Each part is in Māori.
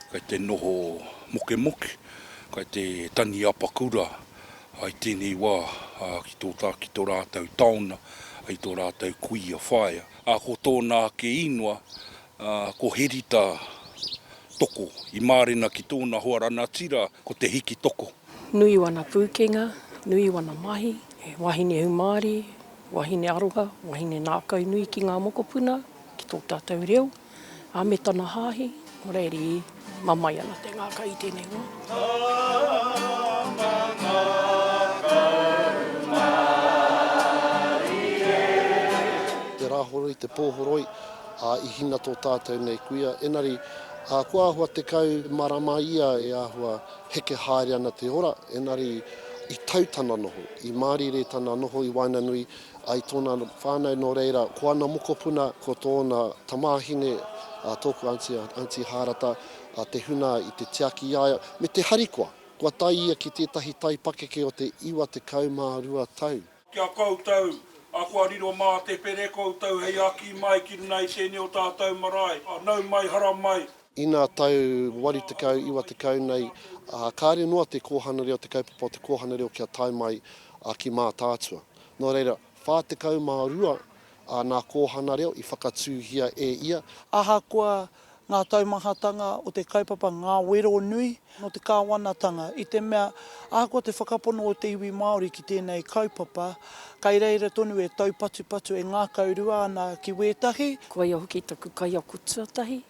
Kai te noho mokemoke, kai te tangi apakura i tēnei wā ki tō tā, ki tō rātou taona, ki tō rātou kuia whaea. Ko tōna ake īngoa, ā, ko Herita Toko i mārena ki tōna hoa ranatira ko Te Hiki Toko. Nui wana pūkenga, nui wana mahi, he wahine hūmārie, wahine aroha, wahine nākau nui ki ngā mokopuna, ki tō tātou reo, ā, me tana hāhi, o reiri. Mamae ana te ngaka i tenei wa. Tama ngakau marie. Te Rahoroi, te Pohoroi, a i hina to tatou nei kuia, enari, a kua ahua tekau marama ia e ahua heke haere ana te ora, enari i tau tana noho, i marire tana noho i waenganui I tōna whānau nō reira, ko ana mokopuna, ko tōna tamāhine, a tōku aunty, a Aunty Hārata, a Te Huna i te tiaki i a ia, me te harikoa. Kua tae ia ki tētahi tai pakeke o te 92 tau. Ki a koutou, a kua riro mā te pere koutou hei aki mai ki runga i tēnei o tātou marae, a nau mai, hara mai. Ina tau 80, 90 nei, ā, kāre noa te kōhana reo, te kaupapa o te kōhana reo kia tae mai ki Mātaatua. Nō reira, 42 āna kōhana reo i whakatūhia e ia. Ahakoa ngā taumahatanga o te kaupapa ngā wero nui nō te Kāwanatanga, i te mea ahakoa te whakapono o te iwi Māori ki tēnei kaupapa, kei reira tonu e taupatupatu, e ngākaurua ana ki wētahi. Koia hoki taku kaiako tuatahi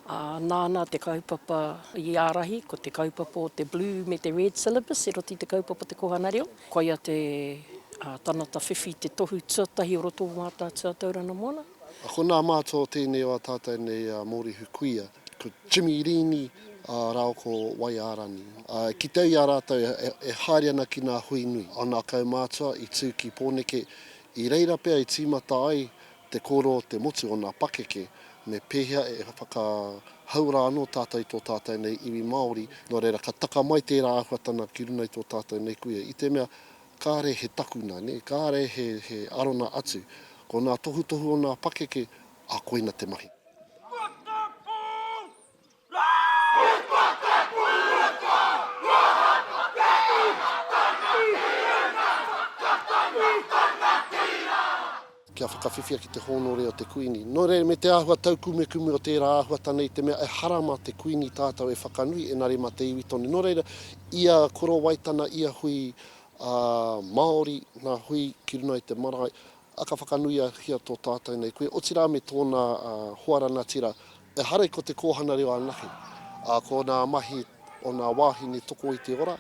Ā, nāna te kaupapa i ārahi, ko te kaupapa o te Blue me te Red Syllabus, e roti i te kaupapa o te Kōhanga Reo. Koia te tangata whiwhi, te tohu tuatahi o roto o Mātaatua a Tauranga Moana. Ko ngā mātua o tēnei o ā tātou nei mōrehu kuia, ko Jimmy Riini rāua ko Wai Ārani. I kitea i a rātou e haere ana ki ngā hui nui o ngā kaumātua i tū ki Pōneke, i reira pea i tīmata ai Te kōrero o te motu o nā pakeke me pēhea e whakahauora anō tātou i tō tātou nei iwi Māori, nō reira ka taka mai tērā āhuatana ki runga i tō tātou nei kuia, i te mea kāre he takuna, nē, kāre he arona atu, ko nā tohutohu o nā pakeke, ā, koina te mahi. Kia whakawhiwhia ki te hōnore o te Kuini. Nō reira, me te āhua taukumekume o tērā āhuata nei te mea ehara mā te Kuini tātou e whakanui, engari mā te iwi tonu. Nō reira, ia Korowaitana, ia hui ā, Māori, ngā hui ki runga i te marae, ā, ka whakanuia hia tō tātou nei koe, otirā me tōna ā, hoa rangatira Ehara i ko Te Kōhana Reo anake, ā, ko nā mahi o nā wāhine toko i te ora,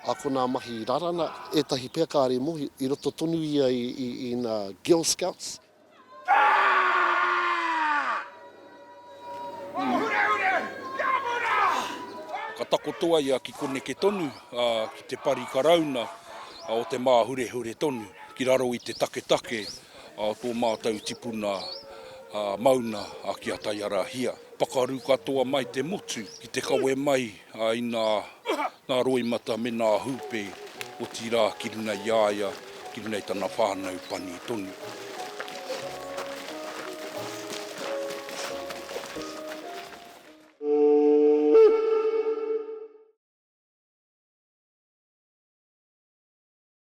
ā, ko nā mahi rarana, ētahi pea kāre mohi, i roto tonu ia i, i, i nā Girl Scouts. Ka takotoa ia ki koneke tonu, ā, ki te pari karauna o te māhurehure tonu, ki raro i te taketake Tō mātou tipuna mauna ki a Taiarahia. Pakaru katoa mai te motu ki te kawe mai i nā roimata me nā hūpē, otirā ki runga i a ia, ki runga i tana whānau pani tonu.